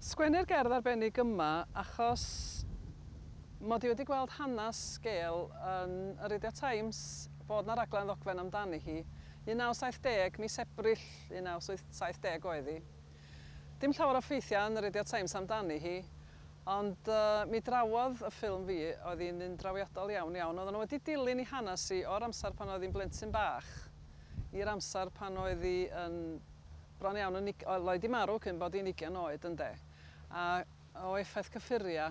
Sgwennu'r gerdd arbennig yma achos mod i wedi gweld hanes Gail yn y Radio Times fod 'na raglen ddogfen amdani hi. 1970, mis Ebrill 1970 oedd hi. Dim llawer o ffeithiau yn y Radio Times amdani hi, ond mi drawodd y ffilm fi, oedd hi'n un drawiadol iawn iawn. Oedden nhw wedi dilyn 'i hanes hi o'r amser pan oedd hi'n blentyn bach i'r amser pan oedd hi yn Bron iawn yn ug-. Oedd Lloyd 'di marw cyn bod hi'n ugian oed, ynde? A o effaith cyffuria,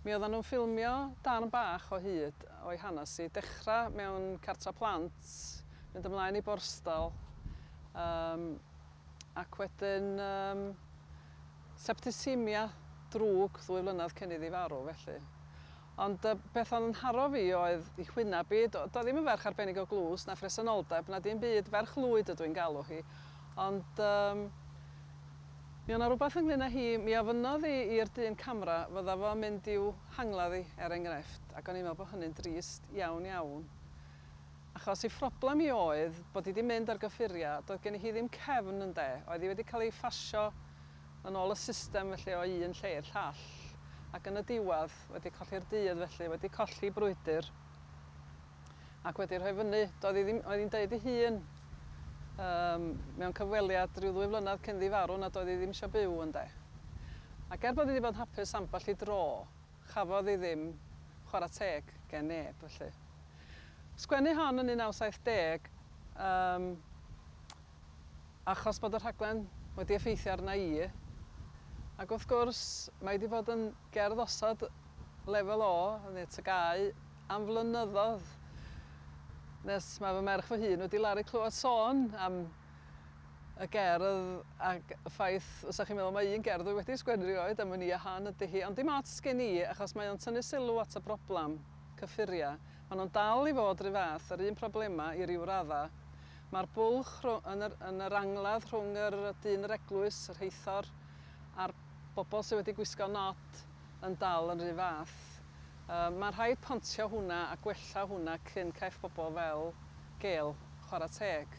mi oeddan nhw'n ffilmio darn bach o hyd o'i hanes hi, dechra mewn cartra plant, mynd ymlaen i Borstal, yym, ac wedyn, yym, septicaemia drwg ddwy flynedd cyn iddi farw, felly. Ond y peth oedd yn haro fi oedd i chwynna bi. Do, do ddim yn ferch arbennig o glust, na phresenoldeb, na dim byd, ferch lwyd ydw i'n galw hi. Ond yym mi o' 'na rwbath ynglŷn â hi, mi ofynnodd i i'r dyn camera fydda fo'n mynd i'w hangladd i, er engrefft, ac o'n i'n meddwl bod hynny'n drist iawn iawn. Achos ei phroblem hi oedd bod hi 'di mynd ar gyffuriau, doedd geni hi ddim cefn ynde, oedd hi wedi cael ei phasio yn ôl y system felly o un lle i'r llall, ac yn y diwedd, wedi colli'r dydd felly, wedi colli brwydr, ac wedi rhoi fyny, doedd hi ddim, oedd hi'n deud ei hun, um, mewn cyfweliad rhyw ddwy flynedd cyn ddi farw nad oedd hi ddim eisiau byw, ynde. Ac er bod hi wedi bod yn hapus ambell i dro, chafodd hi ddim chwarae teg gen neb, felly. Sgwennu hon yn 1970, um, Achos bod y rhaglen wedi effeithio arna i. Ac wrth gwrs, mae 'di bod yn gerdd osod lefel O neu TGAU am flynyddoedd, nes mae fy merch fy hun wedi laru clywed sôn am y gerdd ac y ffaith fysa chi'n meddwl mai un gerdd dwi wedi sgwennu rioed am wn i a hon ydy hi, ond dim ots gen i achos mae o'n tynnu sylw at y broblem, cyffuriau. Maen nhw'n dal i fod 'run fath, yr un problemau i ryw raddau. Mae'r bwlch yn yr, yn yr angladd rhwng yr dyn yr eglwys, y rheithor, a'r bobl sydd wedi gwisgo nod yn dal yn rhy fath. Yy, mae rhaid pontio hwnna a gwella hwnna cyn caiff bobl fel Gail chwarae teg.